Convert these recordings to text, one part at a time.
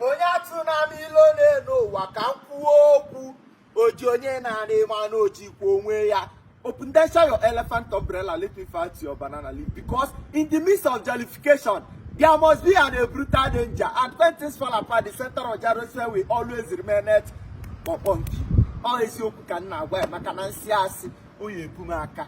onye atụna m ilo n'enu ụwa ka m kwuo okwu oji onye n'anị ma na o jikwa onwe ya open then share your elephant umbrella let me fight your banana leaf because in the midst of jollification there must be an a brutal danger and when things fall apart the center of Jerusalem will always remain at kpọkpọ nki ọ eziokwu ka m na-agwa ya maka na m sị asị ọ ya-ebu m aka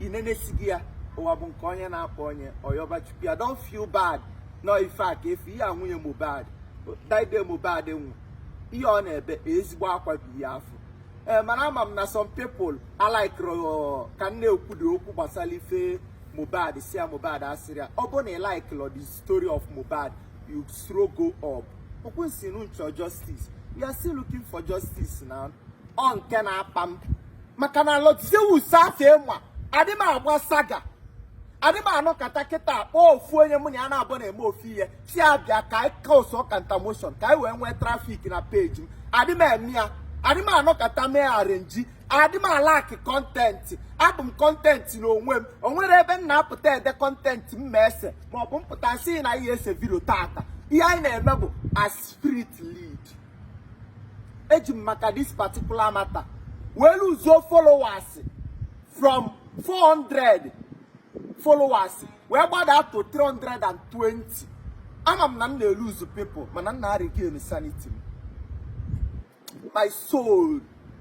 inenesighị ya ụwa bụ nke onye na-akpa onye ọ yọba chukwu ya don't feel bad nọ ife a ka efu ihe a nwunye Mohbad that day Mohbad nwụ ihe ọ na-ebe ezigbo akwa bụ ihe afụ ee mana ama m na some people alikerọ ka m na-ekwudo okwu gbasara ife Mohbad si ya Mohbad asịrị ya ọ bụ na ị likerọ the story of Mohbad you scroll go up ọ kwa unu sị unu chọ justice we are still looking for justice na ọ nke na-akpa m maka na Lord Zeus afụ mụwa adị m agba saga adị m anọkata kịta kpọọ ofu onye mụ na ya na-abụ na-eme ofu ihe sị ya bịa ka anyị cause counter motion ka anyị wee nwee traffic na page m adị m eme ya adị m anọkata mee arrange adị m alack content abụ m content n'onwe m o nwere ebe m na-apụta ede content m ma-ese maọbụ m pụta sị na ihe ese video tata ihe anyị na-eme bụ as spirit lead eji m maka this particular matter wee luzuo followers from 400 followers wee gbada to 320 ama m na m na-eluzu people mana m na-aregain sanity m my soul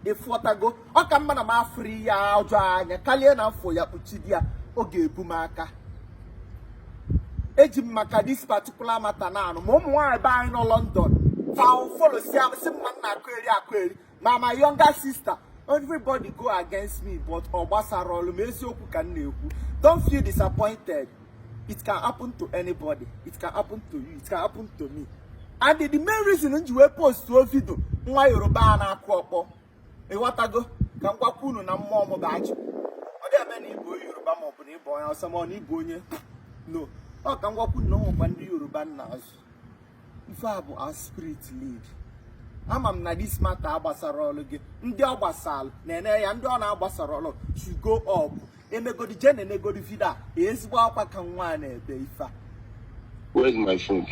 ịghọtago ọ ka mma na m afụrụ ihe ọjọọ anya karịa na m fụ ya kpuchide ya ọ ga-ebu m aka eji m maka this particular matter na anụ ma ụmụ nwaanyị be anyị nọ London follow sị sị m na m na-akọyeri akọyeri ma my younger sister everybody go against me but ọ gbasara ọlụ m eziokwu ka m na-ekwu don't feel disappointed it can happen to anybody it can happen to you it can happen to me and the main reason m ji wee postuo video nwa yoruba a na-akụ ọkpọ ịghọtago ka m gwakwa unu na mmụọ m ga-achị ọ dị eme na ịbụ onye yoruba ma ọ bụ na ịbụ onye awụsa ma ọ na ịbụ onye no ọ ka m gwakwa unu na o nwekwa ndị yoruba m na-azụ ife a bụ as spirit lead ama m na this matter agbasara ọlụ gị ndị ọ gbasara na-ene ya ndị ọ na-agbasara ọlụ should go up emegodi je na-enegodi video a ezigbo akwa ka nwa a na-ebe ife a Where's my phone?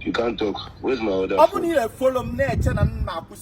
you can't talk. Where's my other ọ bụ na phone? ị na-efollow m na-eche na m na-akwụsị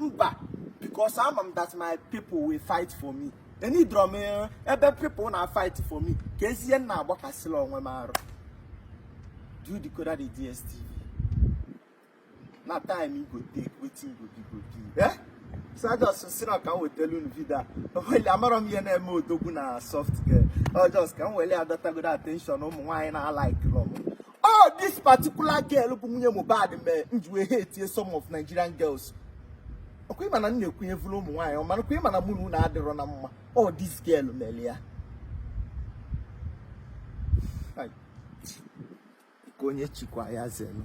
mba because ama m that my people will fight for me eneedrọ m eh, ebe people na-afight for me ka ezie nna agbakasịla onwe m arụ do you decode the dstv na time you go take wetin you go be go be eh so I just sị na ka m wetelu unu video a well amarọ m ihe na-eme odogwu na soft girl ọ just ka m weli ya dọtagodu attention ụmụ nwaanyị na-alikelọ m ọ this particular girl bụ nwunye Mohbad mee m ji wee hatie some of Nigerian girls ọkwa ịma na m na-ekwunyevuru ụmụ nwaanyị mana ọkwa ịma na mụ na unu adịrọ na mma ọ this girl mere ya Hai. ka onye chikwa ya zelu